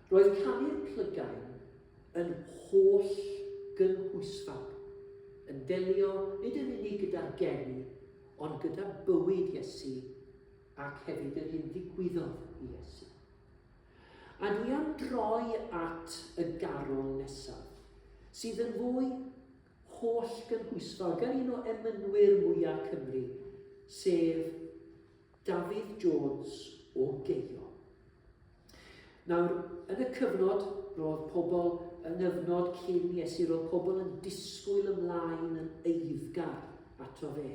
Roedd canu'r plygain yn holl gynhwysfawr, yn delio nid yn unig gyda'r geni, ond gyda bywyd Iesu ac hefyd yr hyn ddigwyddodd i Iesu. A dwi am droi at y garol nesaf, sydd yn fwy holl gynhwysfawr gan un o emynwyr mwyaf Cymru, sef Dafydd Jones o Geio. Nawr, yn y cyfnod, roedd pobl yng nghyfnod cyn Iesu, roedd pobl yn disgwyl ymlaen yn eiddgar ato fe.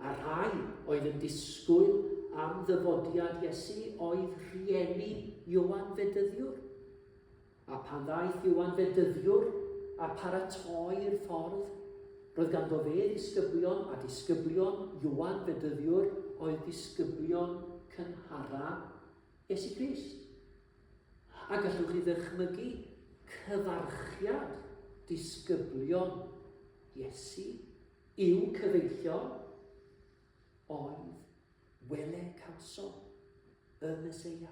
A rhai oedd yn disgwyl am ddyfodiad Iesu oedd rhieni Iowan Fedyddiwr. A phan ddaeth Ioan Fedyddiwr a pharatoi'r ffordd, roedd ganddo fe ddisgyblion, a disgyblion Ioan Fedyddiwr oedd disgyblion cynhara Iesu Grist. A gallwch chi ddychmygu cyfarchiad disgyblion Iesu i'w cyfeillio oedd wele cawsom y Meseia.